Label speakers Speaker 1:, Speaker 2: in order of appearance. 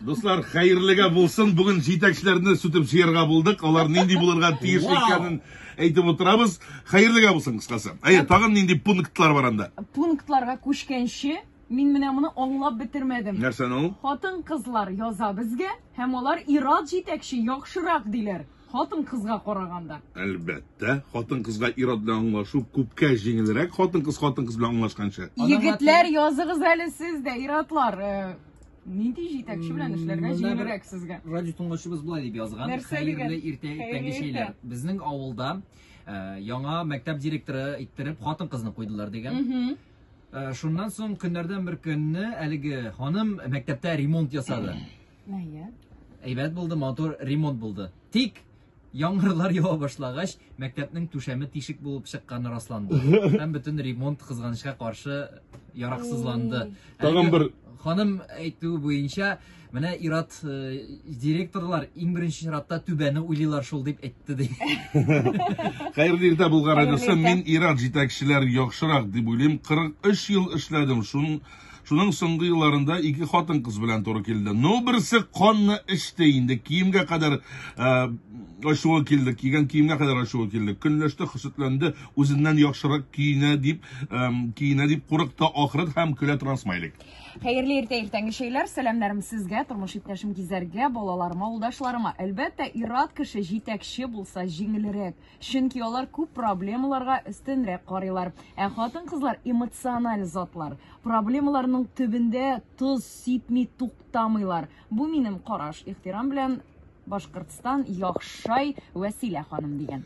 Speaker 1: Дуслар, хәерлегә булсын. Бүген җитәкчеләрне сүтеп җыярга булдык. Алар нинди булырга тиеш икәнен әйтеп утырабыз. Хәерлегә булсын кыскасы. Әйе, тагын нинди пунктлар бар анда? Пунктларга күчкәнче
Speaker 2: мин менә моны аңлап бетермәдем. Нәрсәне ул?
Speaker 1: Хатын-кызлар яза
Speaker 2: безгә һәм алар ират җитәкче яхшырак диләр. хатын-кызга караганда? Әлбәттә,
Speaker 1: хатын-кызга ир-ат белән аңлашу күпкә җиңелрәк, хатын-кыз хатын-кыз белән аңлашканча. Егетләр, языгыз
Speaker 2: әле сез дә, ир-атлар, э, нинди җитәкче белән эшләргә җиңелрәк сезгә? Радио тыңлаучыбыз болай
Speaker 3: дип язган. Нәрсә Хәерле иртә, иртәнге чәйләр. Безнең авылда Э, яңа мәктәп директоры иттереп хатын кызны куйдылар дигән э, шуннан соң көннәрдән бер көнне әлеге ханым мәктәптә ремонт ясады
Speaker 2: Мәйәт. Әйбәт булды,
Speaker 3: матур ремонт булды. Тик яңгырлар ява башлагач, мәктәпнең түшәме тишек булып чыкканы расланды. Һәм бөтен ремонт кызганычка каршы яраксызланды. Тагын бер
Speaker 1: ханым әйтүе
Speaker 3: буенча, менә ират э, директорлар иң беренче чиратта түбәне уйлыйлар шул дип әйтте ди.
Speaker 1: Хәерле иртә булган радиосы. Мин ират җитәкчеләр яхшырак дип уйлыйм. 43 ел эшләдем. Шуның Шуның соңгы елларында ике хатын-кыз белән туры килде. Ну, берсе канны эчте инде, киемгә кадәр э, ачуы килде, кигән киемгә кадәр ачуы килде. Көнләште, хөсетләнде, үзеннән яхшырак киенә дип, э, киенә дип курыкты, ахры һәм көлә торган смайлик. Хәерле иртә
Speaker 2: иртәнге чәйләр, сәламнәрем сезгә, тормыш иптәшем Гизәргә, балаларыма, улдашларыма. Әлбәттә, ират кеше җитәкче булса җиңелрәк. Чөнки алар күп проблемаларга өстенрәк карыйлар. Ә хатын-кызлар эмоциональ затлар. Проблемаларның төбендә тоз сипми туктамыйлар. Бу минем караш. Ихтирам белән Башкортстан, Яхшай, Вәсилә ханым дигән.